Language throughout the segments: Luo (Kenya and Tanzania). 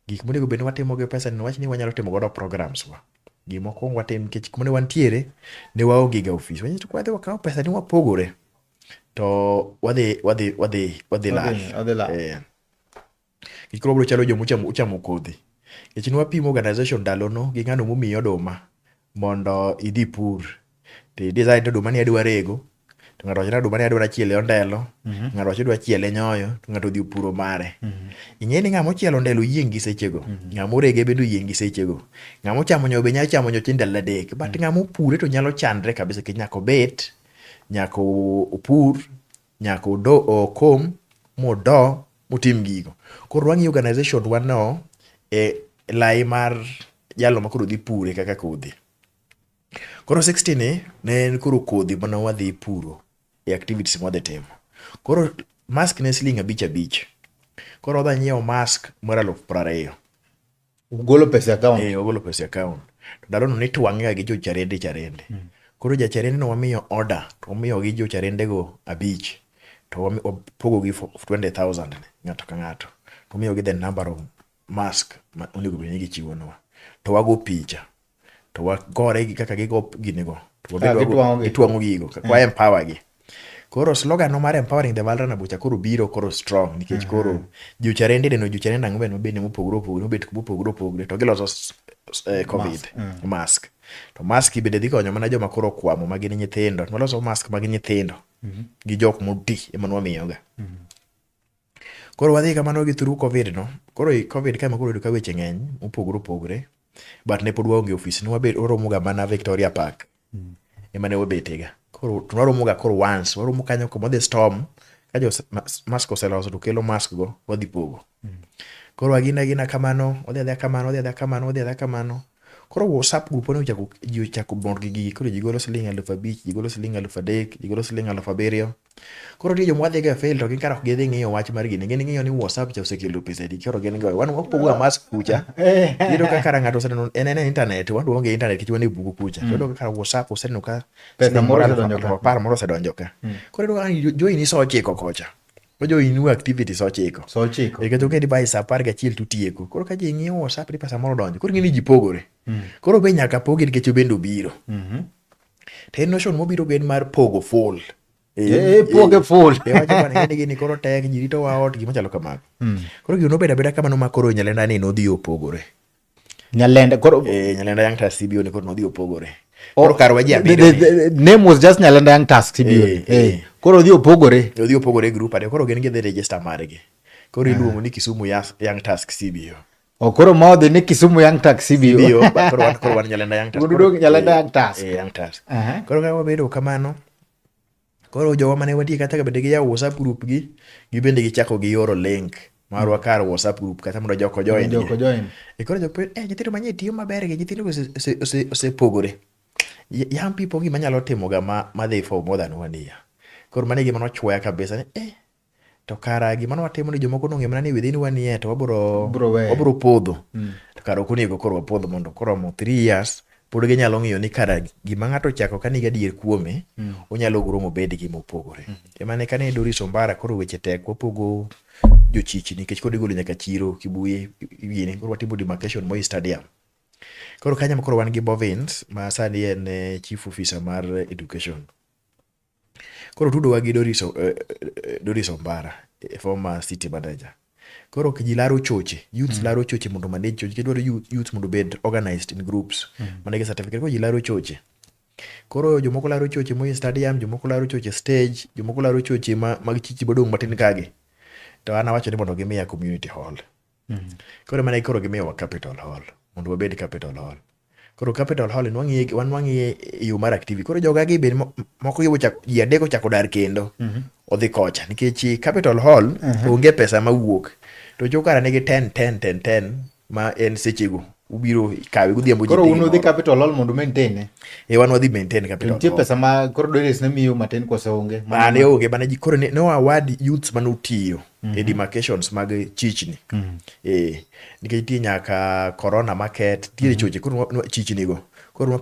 Gik monego bed ni watimo gi pesa ni wach ni wanyalo timo godo programs wa. Gima okwongo watim nikech kuma ne wantiere ne waonge ga ofis. Wanyiso kwadhi wakawo pesa ni wapogore to wadhi wadhi wadhi wadhi lal. Wadhi lal. Eh. Nikech koro wabiro chalo joma uchamo uchamo kodhi. Nikech ne wapimo organization ndalono gi ng'ano momiyi oduma mondo idhi pur. to design to oduma ni adwa rego to ng'ato wacho ni oduma ni adwa chiele ondelo mhm. ng'ato wacho dwa chiele nyoyo to ng'ato odhi opuro mare mhm. ing'e ni ng'ama ochielo ondelo yieng' gi sechego mhm. ng'ama orege bende oyieng' gi sechego ng'ama ochamo nyoyo be nyalo chamo nyoyo chieng' ndalo adek but ng'ama opure to nyalo chandre kabisa kech nyaka obet nyaka opur nyaka odo okom modo motim gigo koro wang'iyo organization wano e lai mar jalo makoro dhi pure kaka kodhi Koro 60 ni ne en koro kodhi mana wadhi puro e activities mwadhi timo. Koro mask ne siling abich abich. Koro wadhi nyiewo mask mar aluf prariyo. Ugolo pesa e account? Eh, ugolo pesa e account. To ndalono nitwang'ega gi jo charende charende. Mm. Koro ja charende no wamiyo order, to wamiyo gi jo charende go abich. To wapogo gi 20,000 ng'ato ka ng'ato. To wamiyo gi the number of mask ma onego bed ni gichiwonwa to wago picha to wagore gi kaka gigo ginigo gitwang'o gigo kwa eh. empower gi koro slogan no mar empowering the valrana bucha koro biro koro strong nikech eh. koro jucharende deno jucharende ang'o bende mobende mopogore opogore mobet mopogore opogore to giloso eh, covid mask mm. to mask bende dhi konyo mana joma koro kwamo ma gin nyithindo waloso mask mag nyithindo mm-hmm. gi jok moti ema nwamiyoga mm-hmm. Koro wadhi kamano gi through Covid no. Koro i Covid ka ema koro oyudo ka weche ng'eny mopogore opogore. But ne pod waonge ofis. Ne wabet waromo ga mana Victoria Park. Mm. Ema ne wabete ga. Koro to waromo ga koro once. Waromo kanyo kuma dhi storm. Ka jo mask oseloso to kelo mask go wadhi pogo. Mm. Koro agina agina kamano. Wadhi adhi kamano. Wadhi adhi kamano. Wadhi adhi kamano. Koro WhatsApp group ne ochako ji ochako bor gi gigi. Koro ji golo siling' aluf abich, ji golo siling' aluf adek, ji golo siling' aluf abiriyo. Koro nitie joma wadhiga e field to gin kara ok gidhi ng'iyo wach mar gini. Gin ng'iyo ni WhatsApp cha osekelo pesa di koro gin go. Wan wapogo amas kucha. Yudo ka kara ng'ato oseneno en en internet wan duonge internet kichwa ni bugu kucha. Mm. Yudo ka kara WhatsApp oseneno ka pesa moro osedonjo ka. Par moro osedonjo ka. Mm. Koro yudo ka join iso chiko kocha. Ojo inu activity so chiko. So chiko. Eka to kendi bai sa par ga chiel tutieko. Koro ka ji ng'iyo WhatsApp ni pesa moro donjo. Koro ng'ini ji pogore. Mm. Koro be nyaka pogi nikech obendo biro. Mhm. Mm To en notion mobiro gen mar pogo full. Eh, eh, eh, poge full. Be wacho bana ngene gini koro tek ji rito wa ot gima chalo kamago. Hmm. Koro gino beda beda kamano ma koro nyalenda ni nodhi opogore. Nyalenda koro eh nyalenda yang tas CBO ni koro nodhi opogore. Oh, koro kar waje abiro. The name was just nyalenda yang tas CBO. Eh, eh. Koro odhi opogore. Odhi opogore group ade koro gen gi register margi. Koro ah. iluongo ni Kisumu Young Task CBO. okoro ma odhi ni kisumu young tax cbo koro wan nyalenda young tax wudu nyalenda young tax eh, eh, young tax koro ka wabedo kamano koro jowa mane watie kata ka bende giyawo whatsapp group gi gibende gichako giyoro link marwa mm. kar whatsapp group kata mondo joko join joko join e koro joko eh nyithindo manye tiyo maber gi nyithindo osepogore young people gima nyalo timo ga ma ma they for more than one year koro mane gima nochwoya kabisa ni eh to kara gima watimo ni jomoko nong'e mana ni within one year to wabro wabro podho mm. to kara ok onego koro wapodho mondo koromo three years pod ginyalo ng'iyo ni kara gima ng'ato chako ka nigi adier kuome mm. onyalo guro mobed gi mopogore mm. ema ne kane Doris Ombara koro weche tek wapogo jochichi nikech koro igolo nyaka chiro kibuye yini koro watimo demarcation Moi Stadium koro kanyam koro wan gi Bovins ma sani en eh, chief officer mar education Koro tudowa gi Doris, uh, Doris Ombara, eh, former city manager. Koro ji laro choche, youths mm. laro choche mondo manage choche. Kidwaro youths mondo bed organized in groups. Mm. Mana gi certificate, koro ji laro choche. Koro jomoko laro choche moye stadium, jomoko laro choche stage, jomoko laro choche ma, mag chichi bodong' matin kage. To an awacho ni mondo gimiya community hall. Mm. Koro mana koro gimiyowa capital hall mondo wabed capital hall. Koro capital hall nwang'iye wan nwang'iye e yo mar activity. Koro joga gi bed moko yo chak ji adek ochako dar kendo. Mm -hmm. Odhi kocha nikech capital hall mm -hmm. onge pesa ma wuok. To jokara nigi 10 10 10 10 ma en sechego ubiro kawe godhiambo ji. Koro un udhi capital hall mondo maintain ne. E wan wadhi maintain capital. Nitie pesa ma koro Doris ne miyo matin koso onge. Ma ne onge bana ji koro ne wawadi youths mane otiyo. mm -hmm. e mhm. demarcations mag chichni mm -hmm. eh, nikech nitie nyaka corona market ntiere mm -hmm. choche koro chichnigo koro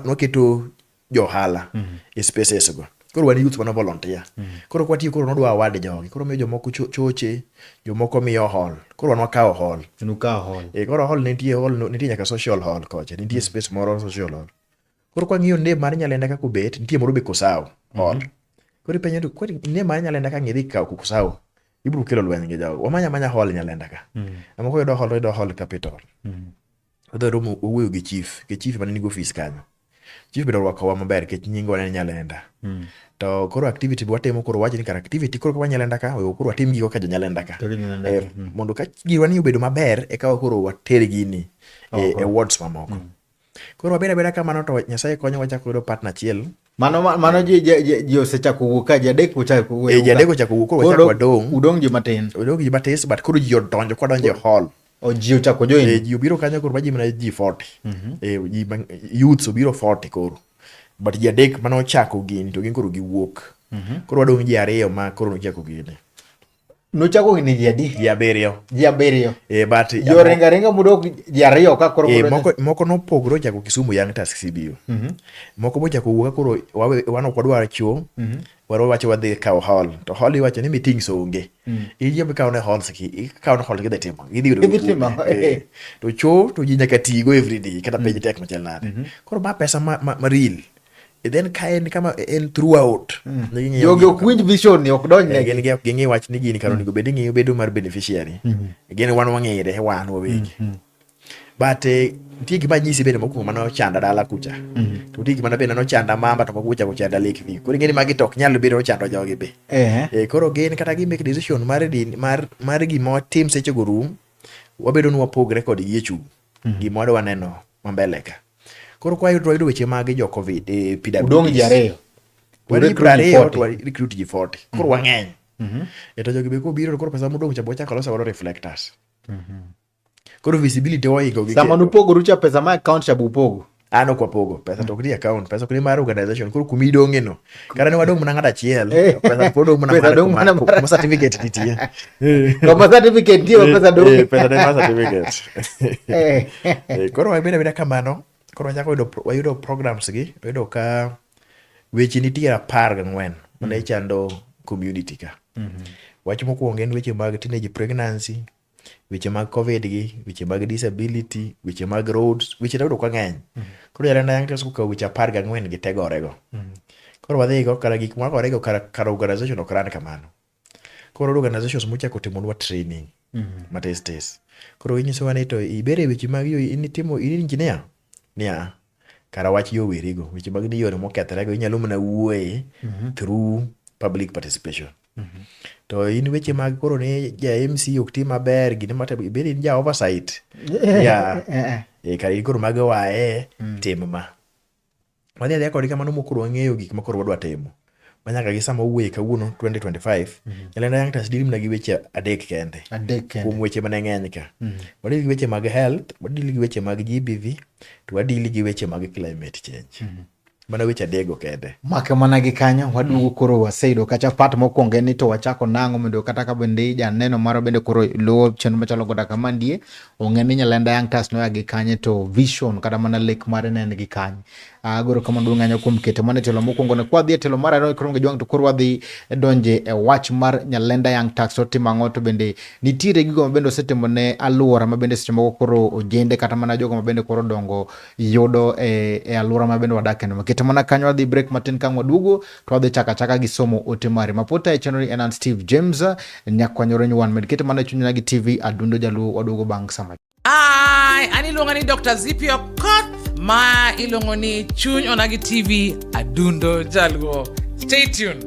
nwaketo johala mm -hmm. e spaces go koro wan youth mana volunteer mm -hmm. koro kwatiyo koro nodwa award jogi koro miyo jomoko choche jomoko miyo hall koro wan wakawo hall nukawo hall e, koro hall nitie hall nitie nyaka social hall kocha nitie mm -hmm. space moro social hall Koro kwa ng'iyo name mar nyalenda kaka obet, nitie moro be Kosao. All. Mhm. Koro ipenyo to kwani name mar nyalenda ka ng'idhi kawo Kosao. Ibro kelo lweny gi jago. Wamanya manya hall nyalenda ka. Mm. Ama ko yudo hall to yudo hall capital. Mm. Odhi romo owuoyo gi chief, ke chief mane nigi ofis kanyo. Chief biro rwakowa maber kech nyingo ne nyalenda. Mm. To koro activity bi watimo koro wachi ni kar activity koro kwa nyalenda ka oyo koro watim gigo ka jo nyalenda ka. Eh, mm. Mondo ka giwa ni obedo maber e ka koro water gini e, e wards mamoko. Mm. Koro wabed abeda kamano to Nyasaye konyo wachako yudo partner achiel. Mano mano ji ji ji osechako wuok ka ji adek ochako wuok. Eh ji adek ochako wuok koro wachako wadong'. Udong' ji matin. Udong' ji matin but koro ji odonjo kwa donjo hall. O ji ochako join. Eh ji obiro kanyo koro baji mana ji 40. Mhm. Eh ji youths obiro 40 koro. But ji adek mano ochako gini to gin koro giwuok. Mhm. Koro wadong' ji ariyo ma koro nochako gini. Nuchako higni ji adi? Ji abiriyo. Ji abiriyo. Eh, but jo ringa ringa mudok ji ariyo ka koro eh, moko moko nopogre ochako Kisumu Young Task CBU. Mm -hmm. Moko mochako wuoka koro wawe wan ok wadwar chuo. Mm -hmm. Waro wacho wadhi kawo hall. To hall iwacho ni meetings onge. Mm -hmm. Ije bi kawo ne hall siki, ikawo ne hall kidhi timo. Idhi yudo. Idhi timo. Eh, eh. To chuo to ji nyaka tigo every day kata mm -hmm. page tek machal nade. Mm -hmm. Koro ba pesa ma, ma, ma real. E then ka en kama e en throughout mm. jogi ok winj vision ni ok donj eh, negi gin ging'i wach ni gini kar onego bed ing'iyo bedo mar beneficiary mm -hmm. gin wan wang'ere wan wawegi mm -hmm. but eh, nitie gima nyisi bende mokwongo mane ochanda dala kucha mm -hmm. to nitie gima bende nochanda mamba to moko kucha kuchanda lake view koro ing'eni magi to ok nyal bedo ochando jogi be uh -huh. e, eh, koro gin kata gi make decision mar din mar mar gima watim sechego rum wabedo ni wapogre kodgi e chung' mm. gima wadwa neno mambele ka koro kwa yudo wayudo weche mage jo covid eh, pwd udong' ji ariyo wadhi piero ariyo to recruit ji 40 koro mm. wang'eny mm -hmm. e to jogi be kobiro koro pesa modong' cha bo chako loso godo reflectors mm -hmm. koro visibility oingo gi sama nupogoru cha pesa ma account cha bupogo an ok wapogo pesa to ok ni account pesa ok ni mar organization koro kuma idong'e no kata ne wadong' mana ng'at achiel eh. pesa pod dong' mana pesa dong' mana kuma certificate nitie kuma certificate nitie eh, pesa dong' eh, pesa ne mar certificate koro wabeda beda kamano koro wachako yudo wayudo programs gi wayudo ka weche nitie apar gang'wen mane mm. chando community ka mm-hmm. wach mokwongo en weche mag teenage pregnancy weche mag covid gi weche mag disability weche mag roads weche noyudo ka ng'eny koro yare na yankees kokawo weche apar gi ang'wen gi tegorego koro wadhi go kara gik magore go kara, kara organization ok ran kamano koro iyudo organizations mochako timonwa training matis tis koro inyisowa ni to ibere weche mag yo in itimo in engineer niya, kara wach yowerigo, weche mag ni yore mokethorego inyalo mana wuoye mhm. through public participation. Mhm. To in weche mag koro ni ja MC ok ti maber, gini mata ibed in ja oversight. Yeah. Eh, eh, eh. Kara in koro mag wae mm. tim ma. wadhi adhiya kodgi kamano mokoro wang'eyo gik makoro wadwa timo manyaka gi sama owuoye kawuono 2025 mhm. nyalenda young trust dili mana gi weche adek kende kuom weche mane ng'eny ka mhm. wadili gi weche mag health wadili gi weche mag gbv to wadili gi weche mag climate change mhm. mana weche adego kende make mana gi kanyo waduogo koro waseyudo kacha pat mokwongo en ni to wachako nang'o mondo kata ka bende janeno maro bende koro luwo chenro machalo goda kama ndie ong'e ni nyalenda Young Stars noya gi kanye to vision kata mana lek mare ne en gi kanye. Agoro ah, kama duong' anyo kuom keto mana e telo mokwongo ne kwadhi e telo mar ariyo koro jwang' to koro wadhi donje e wach mar nyalenda Young Stars otimo ang'o to bende nitiere gigo mabende osetimo ne aluora mabende seche moko koro ojende kata mana jogo mabende koro dongo yudo e, e aluora mabende wadake no. Keto mana kanyo wadhi break matin ka waduogo to wadhi chaka chaka gi somo ote mari maputa e chenro ni en an Steve James nyakwanyoro nyuwan med kete mana chunyna gi TV adundo jaluo waduogo bang' sama Ai, an iluonga ni Dr. Zipi Okoth ma iluongo ni Chuny Onagi TV Adundo Jaluo. Stay tuned.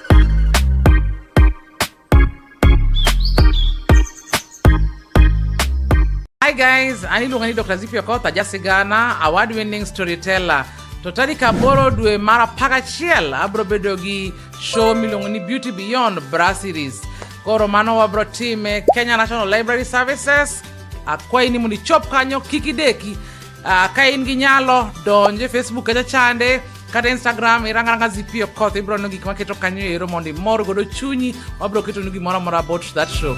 Hi guys, ani iluonga ni Dr. Zipio Koth, aja sigana, award winning storyteller. To tarik aboro dwe mar apar achiel abro bedo gi show miluongo ni Beauty Beyond Brasseries. Koro mano wabro time Kenya National Library Services. Akwayi ni mondo ichop kanyo kik ideki Uh, ka in gi nyalo donj e facebook kacha chande kata instagram irangaranga zipio koth ibiro neno gik maketo kanyo ero mondo imor godo chunyi wabiro ketonu gimoro amora about that show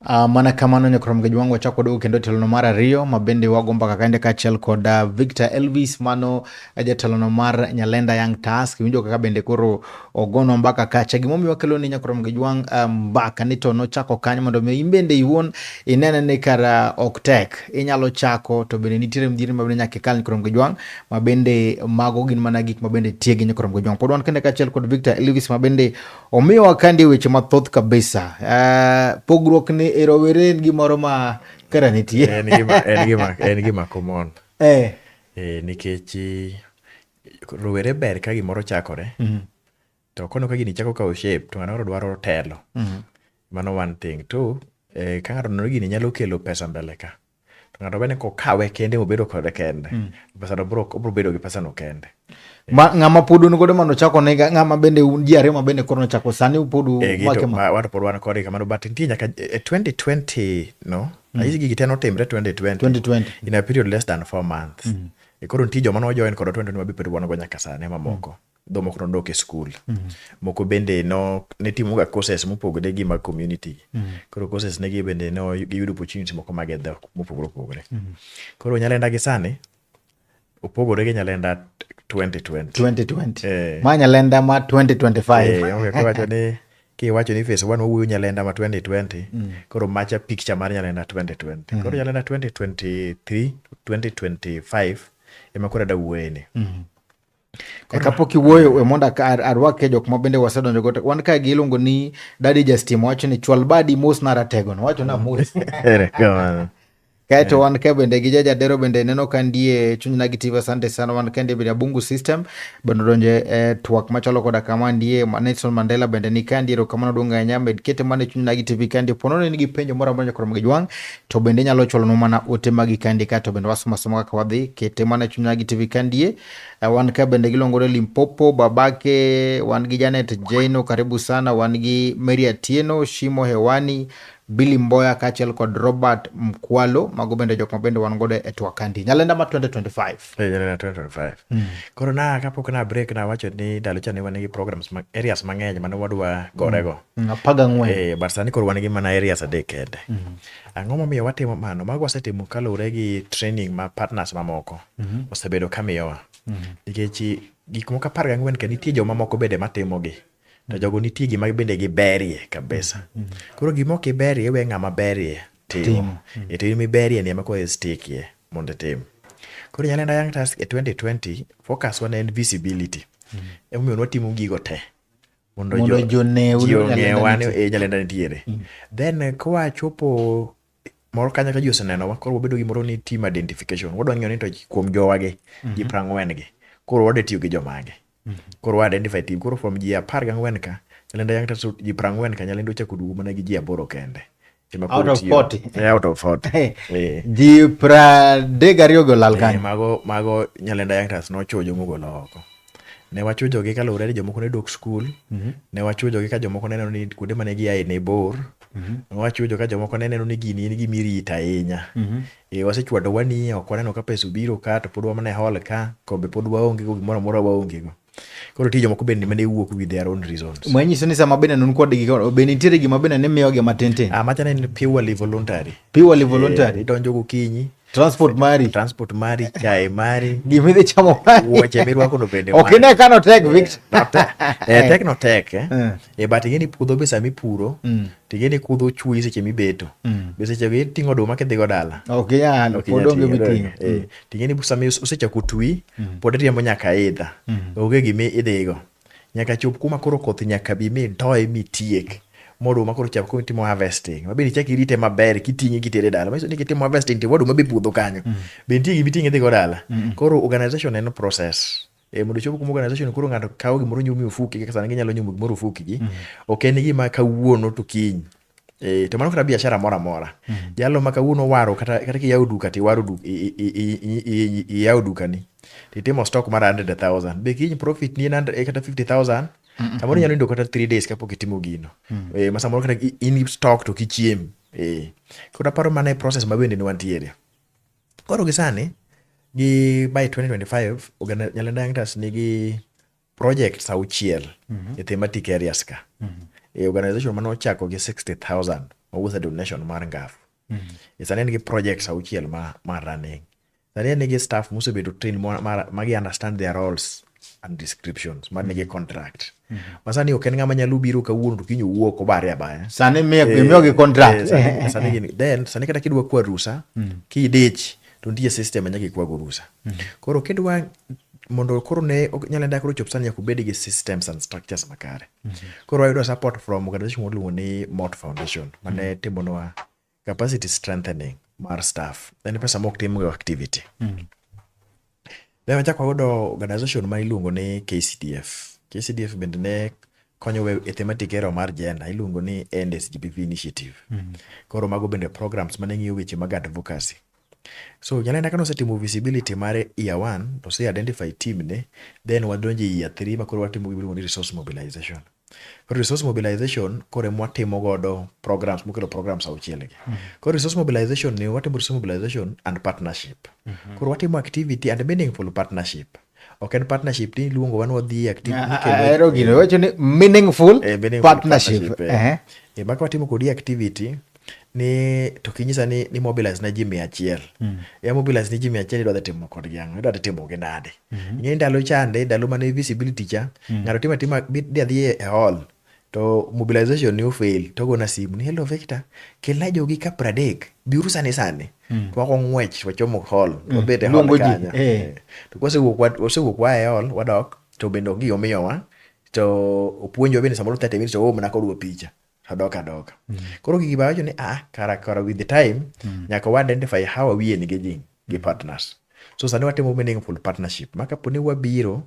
Uh, ah, mana kamano nyokoro mgeji wangu wachako dogo kendo telono mar ariyo ma bende wago mbaka kaende kaachiel kod uh, Victor Elvis mano eh, jatelono mar Nyalenda Young Task winjo kaka bende koro ogono mbaka kacha gimomiyo wakelo ni nyakoro mgeji wang uh, eh, mbaka ni to nochako kanyo mondo mi in bende iwuon inene ni kara uh, ok tek inyalo chako to bende nitiere mjiri ma bende nyaka ikal nyakoro mgeji wang ma bende mago gin mana gik ma bende tiegi nyakoro mgeji wang pod wan kende kaachiel kod Victor Elvis ma bende Omiyo wakandi weche mathoth kabisa. Uh, pogruok ni e rowere en gimoro ma kara nitie. en gima, en gima, en gima common. Eh. Eh, nikech eh, rowere ber ka gimoro chakore. Mm -hmm. To kono ka gini chako kawo shape to ng'ano dwaro telo. Mm -hmm. Mano one thing. Two, eh, ka ng'ato nono gini nyalo kelo pesa mbele ka. to ng'ato bende kokawe kende mobedo kode kende mm. pesano bro obro bedo gi pesano kende ma ng'ama pod un godo mano chako ne ng'ama bende un ji ariyo ma bende koro nochako sani pod eh, wake ma wato pod wan kode kamano but nitie nyaka e 2020 no mm. ayisi gigi te notimre 2020 2020 in a period less than 4 months mm. e koro nitie joma nojoin kod 2020 ma be pod wan go nyaka sani mamoko mm. dho moko nodok e skul mm-hmm. moko bende no ne timoga courses mopogore gi mag community mm-hmm. koro courses negi bende no giyudo opportunity moko mag e dhok mopogore opogore mm-hmm. koro nyalenda gi sani opogore gi nyalenda 2020 eh. ma nyalenda ma 2025 eh, kiwacho ni face one wawuoyo nyalenda ma 2020 mm. koro macha picture mar nyalenda 2020 mm. koro nyalenda 2023 2025 ema koro adawuoyeni mm. E kapok iwuoyo e mondo arwake jok ma bende wasedonjo go wan ka gi iluongo ni Daddy Justin wacho ni chwal badi mos na ratego no wacho na mos kaeto wan ka bende gi jaja dero bende neno ka ndie chuny na gi tiva sante sana wan ka ndie bende abungu system bende donje e twak machalo koda kama ndie Nelson Mandela bende ni ka ndie kamano duong ahinya med kete mane chuny na gi tv ka ndie pono ni gi penjo moro amora nyakoro mgijwang to bende nyalo cholo no mana ote magi ka ndie kaeto bende wasomo asoma kaka wadhi kete mane chuny na gi tv ka ndie Eh, wan ka bende giluongo ni Limpopo, babake wan gi Janet Jaino, karibu sana. Wan gi Mary Atieno, Shimo Hewani, Billy Mboya kaachiel kod Robert Mkwalo, mago bende jok ma bende wan godo e twak kandi. Nyalenda ma 2025. Eh, nyalenda 2025. Mm. Koro na kapok na break na wacho ni ndalo cha ne wan gi programs ma areas mang'eny mane wadwa gorego. Mm. mm. Apaga ng'wen. Eh, but sani koro wan gi mana areas adek kende. Mm. Ang'o momiyo watimo mano? Mago wasetimo kaluwore gi training ma partners mamoko mm -hmm. osebedo kamiyowa mm -hmm. nikech gik moko apar gang'wen ka nitie joma moko bende matimogi to jogo nitie gima bende giberie kabisa mm -hmm. koro gima ok iberie we ng'ama berie timo mm -hmm. e timo miberie ni ema koro istikie mondo itim koro nyalenda young task e 2020 focus wana en visibility mm -hmm. emomiyo nwatimo gigo te mondo jo joneu ji ong'ewa ni e nyalenda nitiere mm. then eh, kwa chopo moro kanya ka ji osenenowa koro wabedo gi moro ni team identification wadwa ng'eyo ni to kuom jowagi ji mm-hmm. prang'wen gi koro wade tiyo gi jomage mm-hmm. koro wa identify team koro from ji apar gang'wen ka nyalenda yang' to ji prang'wen ka nyalenda ochako duogo mana gi ji aboro kende out of 40 eh, out of 40 eh. eh. ji pradek ariyo go lal kanyo mago mago nyalenda youngsters nochujo mogolo oko ne wachujo gi kaluwore ni jomoko ne dok skul mm -hmm. ne wachujo gi ka jomoko ne neno ni kuonde mane giaye ne bor mm -hmm. ne wachujo ka jomoko ne neno ni gini en gima irito ahinya mm -hmm. e, wasechwado wani ok waneno ka pesa obiro ka to pod wamane hol ka kombe pod waonge go gimoro amora waonge go koro nitie jomoko bende mane wuok with their own reasons manyiso ni sama bende nun kod gi be nitiere gima bende ne miyogi matintin ah machana en purely voluntary purely eh, voluntary idonjo gokinyi transport mari transport mari chae mari gima idhi chamo mari wuoche mirwako no bende ok ine kano tek eh, victor eh tek no tek eh, eh. eh but ingeni puodho be sama ipuro mm. ting'e ni kudho chuyi seche mibeto mm. be seche go iting'o oduma kidhigo dala ok inyal pod onge miting'o ting'e ni sama osechako twi mm. pod riembo nyaka idha mm. onge gimi idhigo nyaka chop kuma koro koth nyaka bi mi doye mi tiek moduma koro chako koro timo harvesting ma bende ichak irite maber kiting'e kitere dala manyiso ni kitimo harvesting to waduma be puodho kanyo mm. be nitie gimi ting'e dhigo dala mm. koro organization en process E, mondo chop kuma organization koro ng'ato kawo gimoro nyumi ofuki kaka sana ginyalo nyumo gimoro ofuki gi mm -hmm. ok en gima kawuono to kiny E, to mano kata biashara moro amora mm -hmm. jalo ma kawuono waro kata, kata kiyawo duka to iwaro duka iyawo dukani to itimo stock mar 100,000 be kiny profit ni en e, kata 50,000 samoro inyalo nindo kata 3 days kapok itimo gino mm -hmm. e, ma samoro kata in stock to kichiem e. koro aparo mana e process ma bende ne wantiere Koro gi sani gi by 2025 oganda Nyalenda Young nigi projects auchiel mm -hmm. e thematic areas ka mm -hmm. e organization mane ochako gi 60000 mawuotho donation mar ngafu mm -hmm. e sani en gi projects auchiel ma, ma running sani en gi staff mosebedo train ma, ma, ma gi understand their roles and descriptions man nigi contract mm -hmm. masani ok en ng'ama nyalo biro kawuono to kiny owuok obare abaya sani imiyogi eh, contract eh, sani, eh, sani, sani, then sani kata kidwa kwa rusa mm -hmm. kidich to nitie system nyaka ikwago rusa mm -hmm. koro kidwa mondo koro ne nyalo enda koro chop sani nyaka obed gi systems and structures makare mm -hmm. koro ayudo support from organization moluongo ni mot foundation mane mm -hmm. timonwa capacity strengthening mar staff en pesa mok tim go activity mm. ne wachako wayudo organization ma iluongo ni KCDF KCDF bende ne konyo we e thematic area mar gender iluongo ni NSGBV initiative mm. koro mago bende programs mane ng'iyo weche mag advocacy So janeno ka nosetimo visibility mare year one, to ose identify team ne, then wadonjo e year three ma koro watimo gima ni resource mobilization. Koro resource mobilization koro ema watimo godo programs mokelo programs auchiel gi. Mm -hmm. Koro resource mobilization ni watimo resource mobilization and partnership. Mm -hmm. Koro watimo activity and meaningful partnership. Mm ok en partnership ni iluongo wan wadhi e activity ah, ah, ahero gino wacho ni meaningful eh, partnership eh. Eh. e maka watimo kodi activity ni to kinyisa ni ni mobilize na ji mia achiel mm. ya mobilize ni ji mia achiel idwa timo kodgi ang'o idwa timo gi nade mm -hmm. ing'e ndalo chande ndalo mane visibility cha mm. ng'ato timo atima dhi adhi e hall to mobilization ne ofail to ogona simu ni hello Victor kelna jogi ka pradek biuru sani sani mm. to wako ng'wech wachomo hall mm. wabet e hall kanyo eh. eh. to kwasewuok wasewuok wa e hall wadok to bende ongi omiyowa to opuonjo bende samoro 30 minutes oom na kodwa picha adoka adoka mm. koro gigi bawacho ni ah kara kara with the time mm. nyaka wa identify how are we engaging gi partners. So sani watimo meaningful partnership ma kapo ni wabiro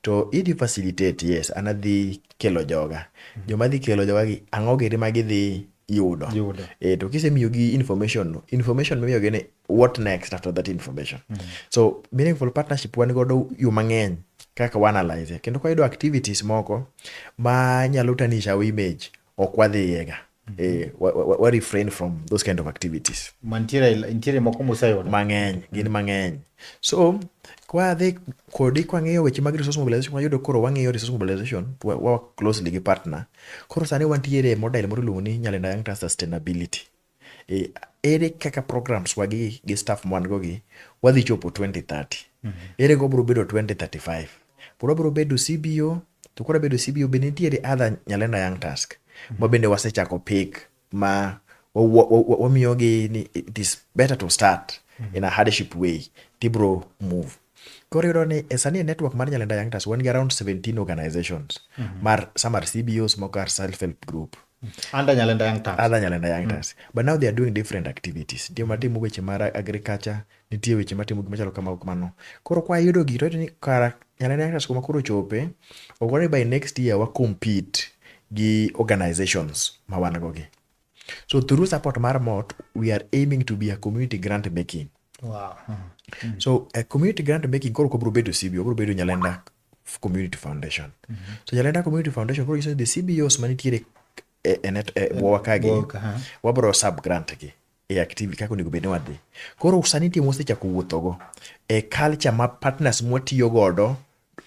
to idhi facilitate yes an adhi kelo joga mhm. joma dhi kelo joga gi ang'o giri ma gidhi yudo e, to kisemiyogi information information mimiyogi ni what next after that information mm. so meaningful partnership wan godo yo mang'eny kaka wanalyze kendo kwayudo activities moko ma nyalo tanisha our image ok wadhiyega mm -hmm. e, eh, wa, wa, wa refrain from those kind of activities mantiere moko museyudo mang'eny gin mang'eny so kwadhi kodi kwang'iyo weche mag resource mobilization wayudo koro wang'iyo resource mobilization wa, wa closely gi partner koro sani wantiere model moro iluongo ni Nyalenda Young Trust Sustainability e, ere kaka programs wagi gi staff mwan go gi wadhi chopo 2030 mm -hmm. ere go bro bedo 2035 bro bro bedo CBO to koro bedo CBO be nitiere other Nyalenda Young Task mm -hmm. ma bende wasechako pick ma wamiyo gi ni it is better to start mm -hmm. in a hardship way tibro move koro iyudo ni e sani e network mar Nyalenda Young Task wan gi around 17 organizations mm -hmm. mar some are CBOs moko are self help group and Anyalenda Young Turns. Other Anyalenda Young Turns. Mm. But now they are doing different activities. Ndio matimo weche mar agriculture, nitie weche matimo gik machalo kamago kamano. Koro kwa yudo gito ni kara Anyalenda Young Turns kuma koro chope, ogore by next year wa compete gi organizations ma wan go gi. So through support mar MOT, we are aiming to be a community grant making. Wow. Mm. So a community grant making koro kobro bedo CB, obro bedo Nyalenda community foundation mm -hmm. so jalenda community foundation bro the cbos manitiere e, e net e bwowa kagi wabro sub grant gi e activity kaka onego bed ni wadhi koro sani timo osechako wuothogo e culture ma partners mwatiyo godo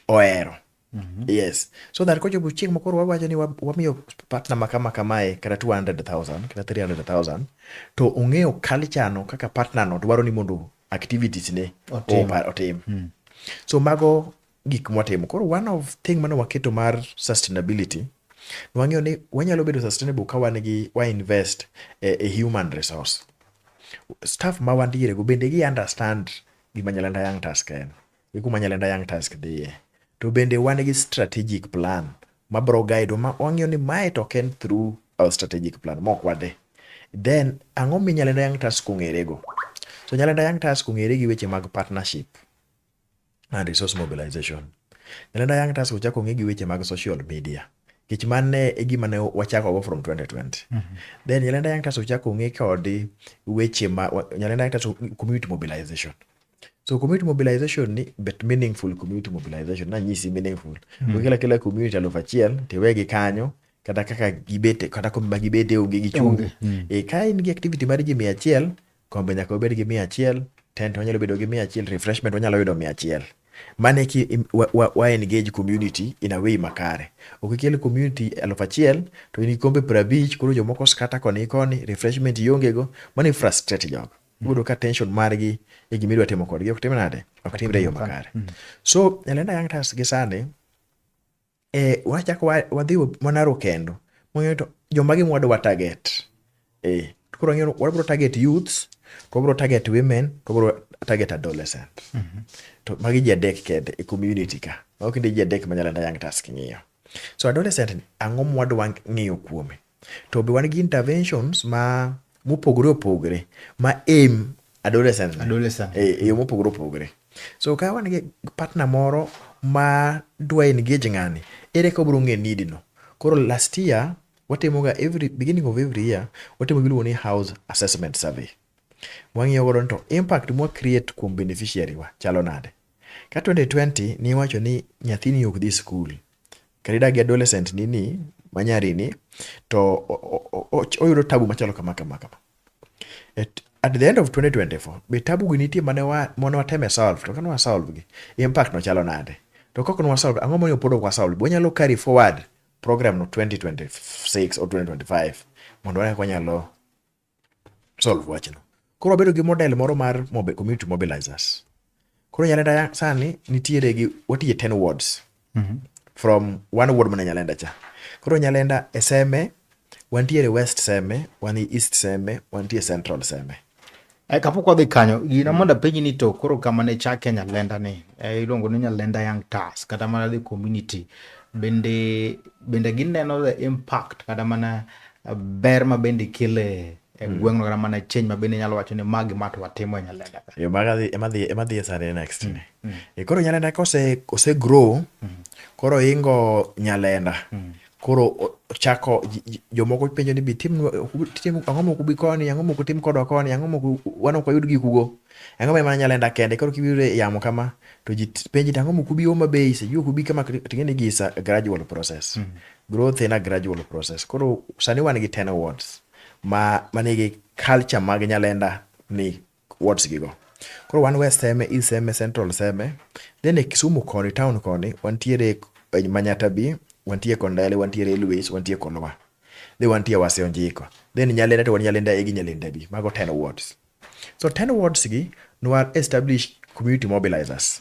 ohero mm -hmm. yes so that kochopo chieng' makoro wawacho ni wamiyo partner ma kama kamae kata 200,000 kata 300,000 to ong'eyo culture no kaka partner no dwaro ni mondo activities ne Otim. o- pa- otim so mago gik mwatimo koro one of thing mane waketo mar sustainability nwang'eyo ni wanyalo bedo sustainable ka wan gi wa invest e, e human resource staff ma wantiere go bende gi understand gima nyalanda young task en e kuma Nyalenda Young Task dhiye. To bende wan gi strategic plan ma bro guide ma wang'eyo ni mae to ok en through our strategic plan mok wade. Then ang'o mi Nyalenda Young Task ong'ere go? So Nyalenda Young Task ong'ere gi weche mag partnership and resource mobilization. Nyalenda Young Task ochako ong'e gi weche mag social media kech mane e gima ne wachako go from 2020 mm -hmm. then Nyalenda Young Task ochako ong'e kod weche ma Nyalenda Young Task community mobilization So community mobilization ni but meaningful community mobilization na nyisi meaningful. Mm. Kila kila community alufu achiel tewegi kanyo kata kaka gibete kata kombe ma gibete onge gi chunge. Mm. E ka in gi activity mar ji mia achiel, kombe nyaka obed gi mia achiel, tent wanyalo bedo gi mia achiel, refreshment wanyalo yudo mia achiel. Mane ki wa, wa, wa engage community in a way makare. Okikel community alufu achiel to in gi kombe prabich koro jomoko skata koni koni refreshment iongego mano ifrustrate jogo. Iyudo ka tension margi e gima idwa timo kodgi ok tim nade? Ok timre e yo makare. Mm. So Elena Young Stars gi sani eh, wachako wadhi mana rokendo mong'eyo to joma gi mwadwa target. Eh, koro ng'eyo wabro target youths, to wabro target women, to wabro target adolescent. Mm -hmm. To magi ji adek kende e community ka. Mago kende ji adek ma Elena Young Stars king'iyo. So adolescent ni ang'o mwadwa ng'iyo kuome? To be wan gi interventions ma mopogore opogore ma aim adolescent adolescent e, e yo mopogore opogore so ka wan gi partner moro ma dwa engage ng'ani ere ka obiro ng'e need no koro last year watimo ga every beginning of every year watimo giluongo ni house assessment survey wang'iyo godo to impact mwa create kuom beneficiary wa chalo nade ka 2020 niwacho ni nyathini ok dhi school kata idak gi adolescent ni ni manyari ni to oyudo tabu machalo kama kama kama at, at the end of 2024 be tabu gi nitie mane wa mane wateme solve to kane wasolve gi impact no chalo nade to kok no wasolve ang'o momiyo pod ok wasolve be wanyalo carry forward program no 2026 or 2025 mondo wane kaka wanyalo solve wachno. Koro wabedo gi model moro mar mobe, community mobilizers. Koro Nyalenda sani nitiere gi watiye 10 wards mm -hmm. from one ward mana Nyalenda cha. Koro Nyalenda e Seme, wantiere West Seme, wan East Seme, wantie Central Seme. Eh, kapok wadhi kanyo gina mondo apenji ni to koro kama ne chake nyalenda ni eh, iluongo ni nyalenda young tas kata mana the community bende bende gineno the impact kata mana ber ma bende ikele e hmm. gweng'no kata mana change ma bende inyalo wacho ni magi ma to watimo e Nyalenda ka. Yo maga ema dhi ema dhi e sare next hmm, ni. Hmm. E koro Nyalenda ka ose ose grow koro ingo Nyalenda. Koro chako jomoko penjo ni bi tim tim ang'o moko bi koni ang'o moko tim kodwa koni ang'o moko wan ok wayud gikugo ang'o ma mana Nyalenda kende koro kibiro e yamo kama to ji penji ang'o moko bi Homa Bay se yuko bi kama ting'e ni gisa gradual process. Growth in a gradual process. Koro sani wan gi 10 awards ma manigi culture mag Nyalenda ni wards gigo. Koro wan West Seme, East Seme, Central Seme. Then e Kisumu koni, town koni, wantiere e Manyata B, wantie Kondele, wantiere Luis, wantie Kolwa. Then wantie Wasio Njiko. Then Nyalenda to wan Nyalenda A gi Nyalenda B. Mago 10 wards. So 10 wards gi nwa establish community mobilizers.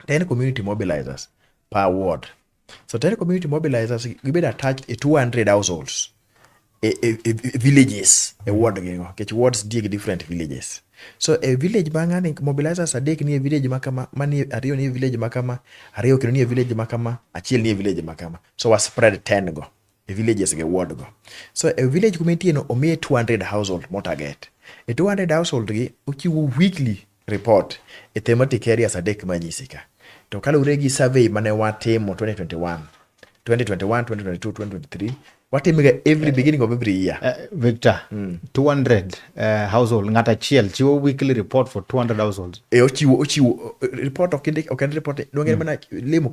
10 community mobilizers per ward. So tell community mobilizers gibed attached e 200 households e, e, e, e villages e ward gi ngo kech wards die gi different villages so e village ma ngani mobilizers adek ni e village ma kama mani ariyo ni e village ma kama ariyo kendo ni e village ma kama achiel ni e village ma kama so was spread 10 go e villages gi ward go. So e village kuma entieno omiye 200 household mo target. E 200 household gi ochiwo weekly report e thematic areas adek manyisi ka. To kaluwore gi survey mane watimo 2021, 2021, 2022, 2023, watime ga every beginning of every year. Uh, Victor, mm. 200 uh, household ng'at achiel chiwo weekly report for 200 households e ochiwo ochiwo eh, report ok indik ok en report donge mm. mana limo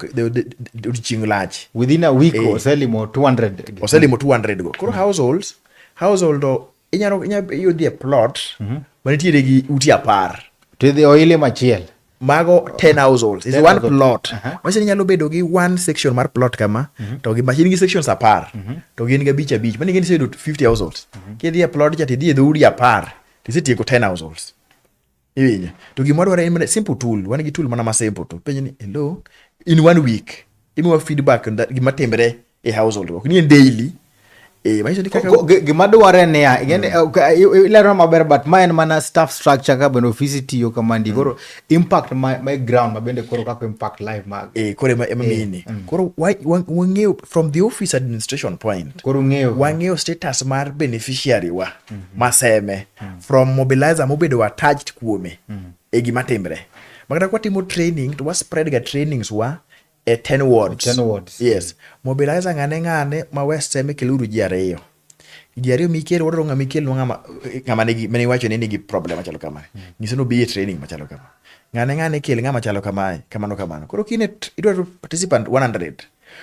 odiechieng lach within a week e. oselimo 200 oselimo 200 go koro mm. households household inyalo inyalo yudhi e plot mm -hmm. manitiere gi uti apar to idhi oile machiel mago 10 households is one plot uh -huh. machini nyalo bedo gi one section mar plot kama uh mhm. -huh. to gi machini gi sections apar uh mhm. -huh. to gin ga bich abich mani gin sedo 50 households uh mhm. -huh. kidhi e plot cha tidhi e dhoudi apar tisetieko 10 households iwinjo to gima dwaro en simple tool wan gi tool mana ma simple to penj ni hello in one week imiwa feedback gima timre e household work nie daily eh, gima dwarre niya mm. eh, eh, ilero maber but ma en mana staff structure ka bende ofisi tiyo kamandi mm. koro impact my ground ma bende koro kaka impact life mag koro emamini mm. koro wang'eyo from the office administration point koro ng'eyo wang'eyo status mar beneficiary wa mm-hmm. maseme from mobilizer mobedo attached kuome e gima timre makata kwatimo training to wa spread ga trainings wa e ten wards. Ten wards. Yes. Mobilizer ng'ane ng'ane ma West Seme keluru ji ariyo. Ji ariyo mikel wadwaro ng'ama ikel ng'ama ng'ama nigi mane iwacho ni nigi problem machalo kama. Mm. Nyise no bi e training machalo kama. Ng'ane ng'ane ikel ng'ama chalo kamae kamano kamano. Koro kine idwaro participant 100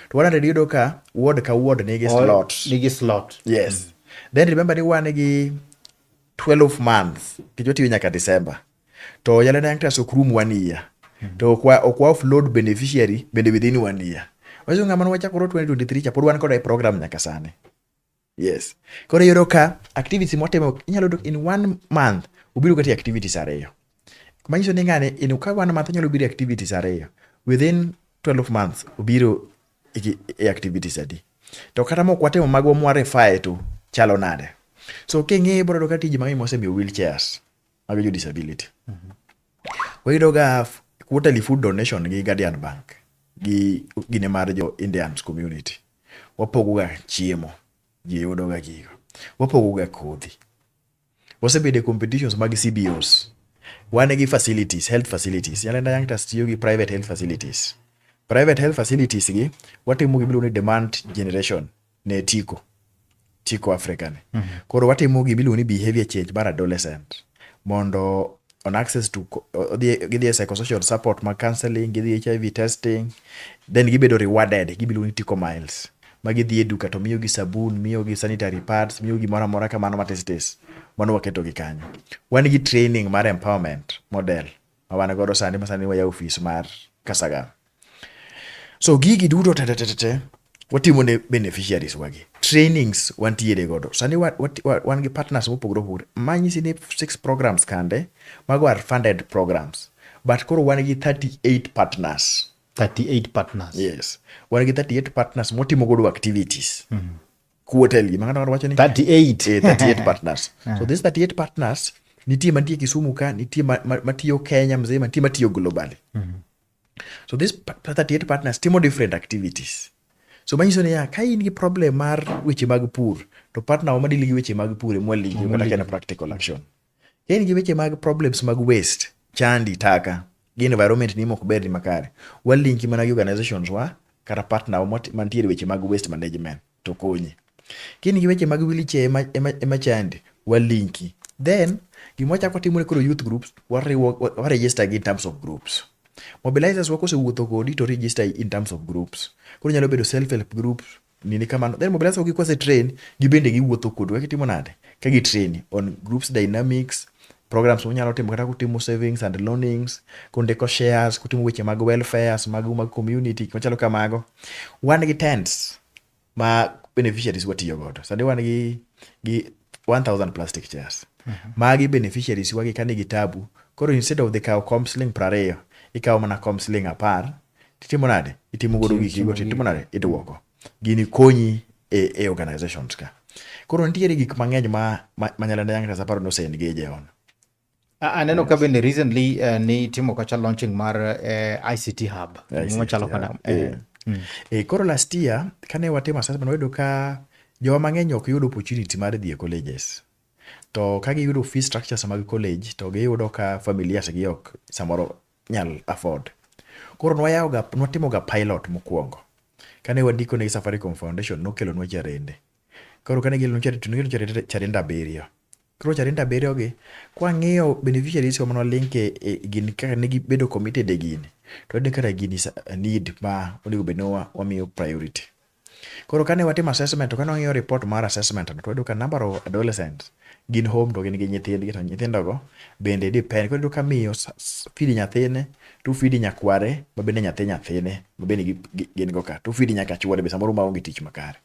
to 100 yudo ka ward ka ward nigi slot. Nigi slot. Yes. Mm. Then remember ni wan gi 12 months kichwa tiyo nyaka December. to yala nang trust ok rum one year hmm. to ok wa ok wa offload beneficiary bende within one year wacho ngama ne wachakoro 2023 cha pod wan koda e program nyaka sani yes koro yoro ka activity motimo inyalo dok in one month ubiro kati activities ariyo manyiso ni ngane in ka one month inyalo biro activities ariyo within 12 months ubiro e activities adi to kata mok watimo magwa mwarefae to chalo nade so king'e ibro yudo ka tije mang'eny mosemiyo wheelchairs mago jo disability mm -hmm. wayudoga quarterly food donation gi Guardian Bank gi gine mar jo Indians community wapogoga chiemo ji yudoga gigo wapogoga kodhi wasebedo e competitions mag CBOs wan gi facilities health facilities Nyalenda Young Trust tiyo gi private health facilities private health facilities gi watimo gimiluongo ni demand generation ne tiko tiko Africa ni. Mm -hmm. Koro watimo gima iluongo ni behavior change mar adolescent mondo on access to gidhi e psychosocial support mag counseling, gidhi e HIV testing, then gibedo rewarded, gibiluongo ni tiko miles. Ma gidhi e duka to miyogi sabun, miyogi sanitary pads, miyogi moro amora kamano matis tis. Mano waketo gi kanyo. Wan gi training mar empowerment model ma wan godo sani ma sani waya ofis mar Kasagam. So gigi duto te te te te watimo ne beneficiaries wagi. Trainings wantiere godo. Sani wa, wa, wa, wan gi partners mopogore opogore. Manyisi ni six programs kande, mago are funded programs. But koro wan gi 38 partners. 38 partners. Yes. Wan gi 38 partners motimo godo activities. Mm -hmm. kuotel gima ng'ato wacho ni 38 eh, 38 partners so this 38 partners nitie mantie Kisumu ka nitie matiyo Kenya mzee nitie matiyo globally mm -hmm. so this 38 partners timo different activities so manyiso ni ya ka in gi problem mar weche mag pur to partner wa madili gi weche mag pur emwaligi kata kena practical action in gi weche mag problems mag waste chandi taka gi environment ni mok ber ni makare walinki mana gi organizations wa kata partner mantiere weche mag waste management to konyi kini gi weche mag wiliche ema, ema, ema chandi walinki then gima wachako timore koro youth groups wariwo waregister gi in terms of groups mobilizers wa kosewuotho kodi to register in terms of groups koro nyalo bedo self help groups nini kamano then mobilize gi kwase train gibende giwuotho kodu kaka itimo nade ka gi train on groups dynamics programs munyalo timo kata kutimo savings and loanings kundiko shares kutimo weche mag welfares mag mag community machalo kamago wan gi tents ma beneficiaries watiyo godo sani wan gi gi 1000 plastic chairs mm -hmm. magi beneficiaries wagi kani gi tabu koro instead of the kawo comsling prariyo ikawo mana comsling apar titimo nade itimo godo giki go titimo nade iduoko gini konyi e, e organizations ka koro nitiere gik mang'eny ma, ma, ma nyalenda young aparo ni ose engage on aneno ka bende recently uh, ni timo kacha launching mar uh, eh, ict hub machalo kana eh. yeah. mm. e, koro last year kane watimo assessment wayudo ka joma mang'eny ok yud opportunity mar dhi e colleges to ka giyudo fee structures mag college to giyudo ka familias gi ok samoro nyal afford. Koro nwayawoga, nwatimoga pilot mokwongo. Kane wandiko ne Safaricom Foundation, nokelonwa charende. Koro kane gikelonwa charende, to nokelonwa charende, charende abiriyo. Koro charende abiriyogi, kwang'iyo beneficiaries wa mane walinke e gini kaka ne gibedo committed e gini, to wayudo ni kara gini is a need ma onego bed ni wamiyo priority. Koro kane watimo assessment to kane wang'iyo report mar assessment no to wayudo ka number of adolescents gin home to gin gi nyithindgi to nyithindogo bende depend. Koro iyudo ka miyo feed nyathine to feed nyakware ma bende nyathi nyathine ma bende gin go ka to feed nyaka chuore be samoro ma onge tich makare.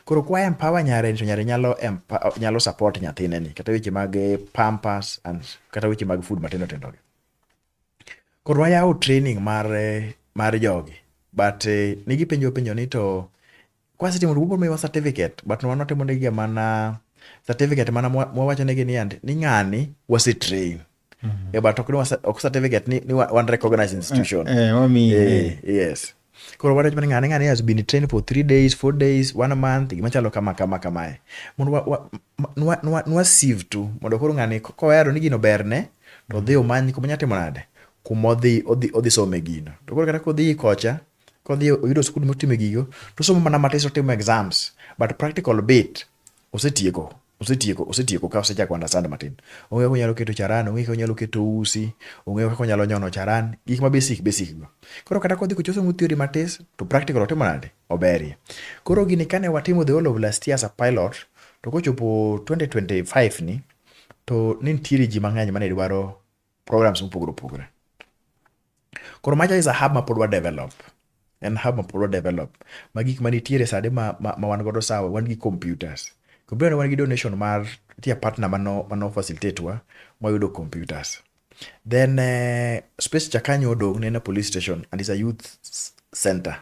Koro kwa empower nyare to nyare nyalo empower nyalo support nyathine ni kata weche mag pampers and kata weche mag food matindo tindo gi. Koro wayawo training mar mar jogi but eh, nigi penjo penjo ni to kwasetimo to wabiro certificate but wan watimo negi mana certificate mana mwawacho negi ni and ni ng'ani wase train mm -hmm. yeah, but ok, ok certificate ni, ni one recognized institution eh, eh, eh, yes Koro wadwach mana ng'ane ng'ane has been trained for three days, four days, one month, gima chalo kama kama kamae. Mondo wa, wa, nwa, nwa, nwa sieve tu, mondo koro ng'ani kowero ni gino berne, to odhi omany kuma nyalo timo nade? Kuma odhi, odhi, odhi some gino. To koro kata kodhi kocha, kodhi oyudo skul motime gigo, to osomo mana matis otimo exams, but practical bit osetieko. osetieko osetieko ka osechako understand matin. Ong'eyo kaka onyalo keto charan, ong'eyo kaka onyalo keto usi, ong'eyo kaka onyalo nyono charan, gik ma basic basic go. Koro kata kodhi kochoso mu theory matis to practical otimo nade? Oberie. Koro gini kane watimo the whole of last year as a pilot to kochopo 2025 ni to ne nitiere ji mang'eny mane dwaro programs mopogore opogore. Koro macha is a hub ma pod wa develop. En hub ma pod wa develop. Ma gik manitiere sade ma, ma, ma wan godo sawa, wan gi computers. Computer wan gi donation mar tia partner mano, mano facilitate wa, mwayudo computers. Then uh, space cha kanyo odong' ne na police station and is a youth center.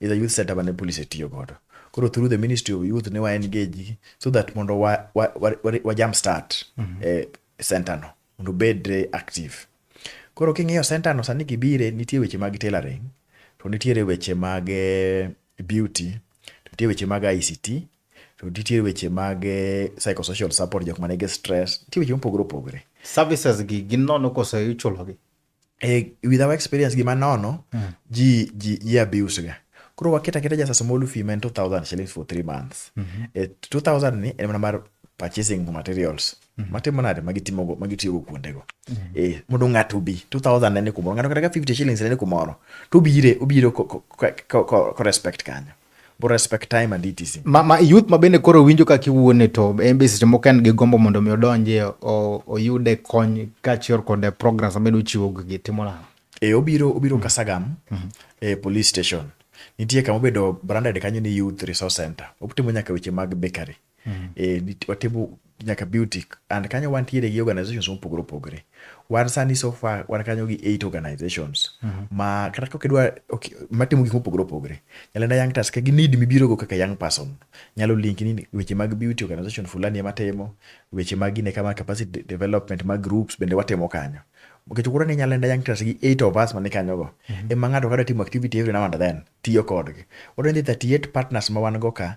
Is a youth center mane police tiyo godo. Koro through the Ministry of Youth ne wa engage so that mondo wa, wa, wa, wa, wa jump start mm -hmm. eh, center no. mondo obed active. Koro king'iyo center no sani gibire nitie weche mag tailoring, to nitiere weche mag eh, beauty, to nitie weche mag ICT, to nitie weche mag eh, psychosocial support jok manigi stress, nitie weche mopogore opogore. Services gi gin nono koso ichulogi? e with our experience gima nono mm. ji ji ji abuse ga koro waketa keta just a small fee man 2000 shillings for 3 months mm -hmm. e 2000 ni en mana mar purchasing materials mm -hmm. matimo nade magitimo go magitiyo go kuonde go mm -hmm. e eh, mondo ngato bi 2000 nene kumoro ngato kata 50 shillings nene kumoro to bire obiro ko, ko, ko, ko, ko respect kanyo bu respect time and etc. Ma, ma youth ma bende koro winjo ka kiwuone to en be seche moko en gi gombo mondo mi odonje oyude kony kaachiel kod e programs ma bedo chiwo gi timo nang'o? E, obiro obiro mm -hmm. Kasagam mm -hmm. e police station nitie kama obedo branded kanyo ni youth resource center. Otimo nyaka weche mag bakery. mm. e, watimo nyaka beauty and kanyo wantiere gi organizations mopogore opogore wan sani so far wan kanyo gi eight organizations mm -hmm. ma kata kok idwa okay, matimo gik mopogore opogore nyalenda young task gi need mibiro go kaka young person nyalo link ni weche mag beauty organization fulani ema timo weche mag ine kama capacity development mag groups bende watimo kanyo nikech koro ni nyalenda young task gi eight of us mani kanyo go mm -hmm. ema ng'ato kadwa timo activity every now and then tiyo kodgi wadwa ni 38 partners ma wan go ka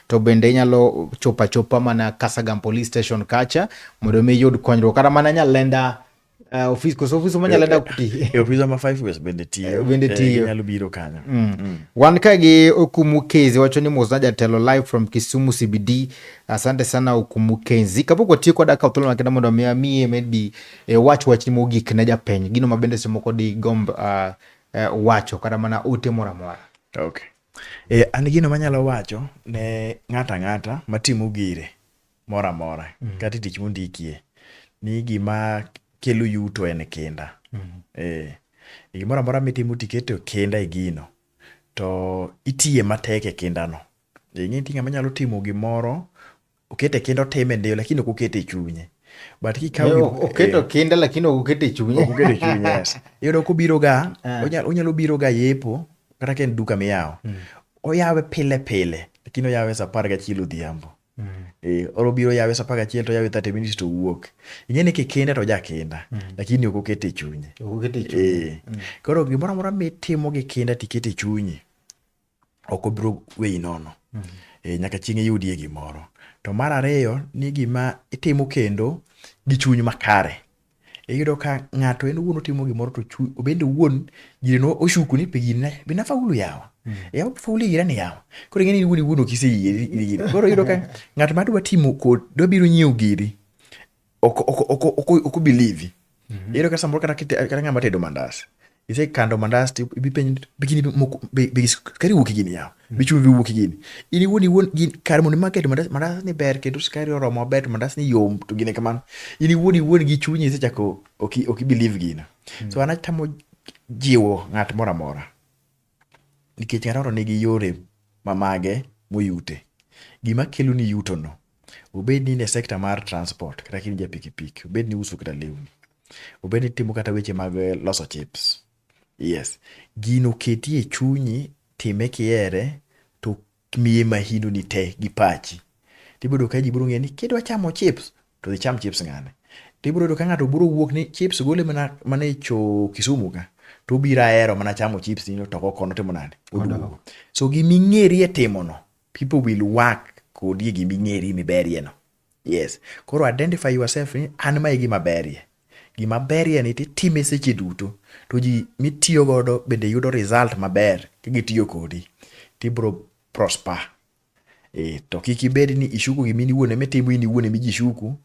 to bende inyalo chopa chopa mana Kasagam police station kacha mondo mi yud konyruok kata mana nyalenda uh, eh, ofis koso ofis ma nyalenda eh, kuti e eh, ofis ma five ways bende tiyo bende tiyo nyalo biro kanyo mm. mm. wan ka gi okumu kezi wacho ni mos na jatelo live from Kisumu CBD asante sana okumu kezi kapok watiyo koda ka thuolo makenda mondo mi amie maybe e wach wach ni mogik ne japeny gino ma bende semoko di gomb uh, uh, wacho kata mana ote mora mora okay E, an gino manyalo wacho ne ng'ato ang'ata matimo gire moro amora mm -hmm. kata tich mondikie ni gima kelo yuto en kinda mm -hmm. e, e gimoro amora mitimo tiketo kinda e gino to itiye matek e kindano ing'e ti ng'ama nyalo timo gimoro okete kinda otime ndio lakini ok okete e chunye but kikawo eh, oketo eh, kinda lakini ok okete e chunye ok okete e chunye yes iyudo kobiro ga ah. onyalo onyalo biro ga yepo kata ka en duka miyawo hmm. oyawe pile pile lakini oyawe saa apar gachiel odhiambo hmm. eh, oro biro yawe saa apar gachiel to yawe thirty minutes to wuok ing'e ni kikinda to ojakinda hmm. lakini ok okete e chunye koro gimoro amora mitimo gi kinda tikete e chunyi ok obiro weyi nono mm -hmm. e, nyaka chieng' iyudie gimoro to mar ariyo ni gima itimo kendo gi chuny makare iyudo ka ng'ato en owuon otimo gimoro to obende owuon jireno oshuku ni pigine be nafaulu yawa mm. yawa faulu gira ni yawa koro ing'eni iwuon iwuon ok iseyie koro iyudo ka ng'at ma dwa timo kod dwa biro nyiewo giri ok ok ok ok ok obelieve iyudo kata samoro kata kite- kata ng'ama tedo mandas isekando mandas to ibi penj bigini moko be- be- skari wuok gini yaw bichumi bi wuok gini in iwuon iwuon gin kar mondo imak keto mandas mandas ni ber kendo skari oromo maber to mandas ni yom to gine kamano in iwuon iwuon gi chunyi isechako ok i- ok ibelieve gino so an atamo jiwo ng'at moro amora nikech Aroro nigi yore ma mage moyute. Gima kelo ni yuto no, obed ni in e sector mar transport kata kin ja pikipiki, obed ni iuso kata lewni, obed ni itimo kata weche mag eh, loso chips. Yes, gino keti e chunyi, time kihere, to Miye mahino ni te gi pachi. Tibodo ka ji biro ng'eyo ni kidwa chamo chips to dhi cham chips ng'ane. Tibiro yudo ka ng'ato biro wuok ni chips gole mana mana e cho Kisumu ka to obiro ahero mana chamo chips ni to kono timo nade oduogo. So giming'eri e timono people will work kodi e giming'eri miberie no. Yes. Koro identify yourself ni an ma e gima berie. Gima berie ni titime seche duto to ji mitiyo godo bende yudo result maber ka gitiyo kodi tibro prosper. E, to kik ibed ni ishuku gima in iwuon ema itimo in iwuon ema ji shuku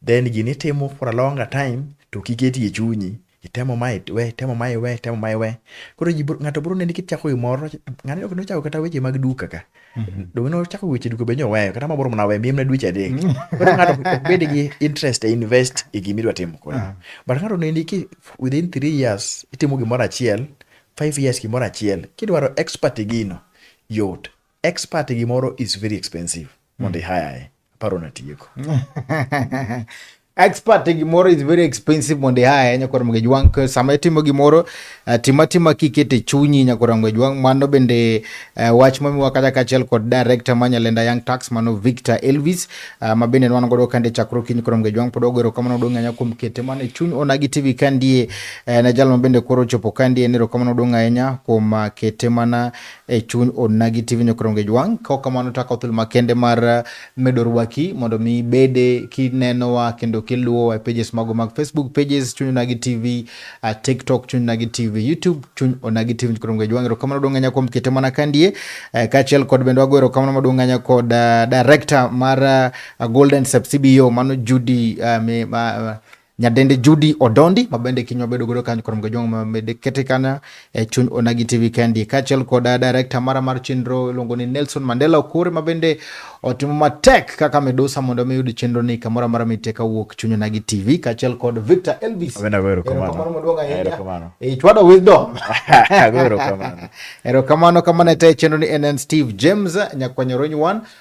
then gini itimo for a longer time to kiketi e chunyi itemo ma iwe itemo ma iwe itemo ma iwe koro ji ng'ato bro neni kichako gimoro ng'ani ok nochako kata weche mag duka ka mhm. donge nochako weche duka be nyoweyo kata ma bro mana we miyemne dweche adek mm. koro ng'ato ok bed gi interest e invest e gima idwa timo koro ah. but ng'ato neni ki within three years itimo gimoro achiel five years gimoro achiel kidwaro expert e gino yot expert e gimoro is very expensive mondo hmm. ihayae aparo natieko expert e gimoro is very expensive mondo ihayae nyakwar mge jwang sama itimo gimoro uh, tima tima kikete chunyi nyakwar mge jwang mano bende uh, wach mamiwa kata kachiel kod director ma nyalenda young tax mano victor elvis uh, ma bende nwan godo kande chakro kiny koro mge jwang pod ogero kamano dong anya kuom kete mane chuny onagi tv kandie uh, na jal ma bende koro chopo kandie nero kamano dong ahinya kuom uh, kete mana e chuny Onagi TV Nyokoronge Jwang. Kaok kamano to akawo thuolo makende mar eh, medo rwaki mondo mi ibede kinenowa kendo kiluwowa e pages mago mag Facebook pages chuny Onagi TV, uh, eh, TikTok chuny Onagi TV, YouTube chuny Onagi TV Nyokoronge Jwang. Erokamano duong' ahinya kuom kete mana kandie eh, kaachiel kod bende wago erokamano maduong' ahinya kod director mar Golden Subsidio mano Judy uh, me, uh, Nyadendi Judy Odondi ma bende kiny wabedo godo kanyo kuom gojong ma mede kete kana e chuny Onagi TV kendi kaachiel kod director mara mar chenro iluongo ni Nelson Mandela Okore ma bende otimo matek kaka medusa mondo mi yud chenro ni kamoro amora mite ka wuok chuny Onagi TV kaachiel kod Victor Elvis. Abenda wero kamano. Kamano maduong' ahinya. E chwado wisdom. Wero kamano. Ero kamano kamano te chenro ni NN Steve James nyakwanyoro nywan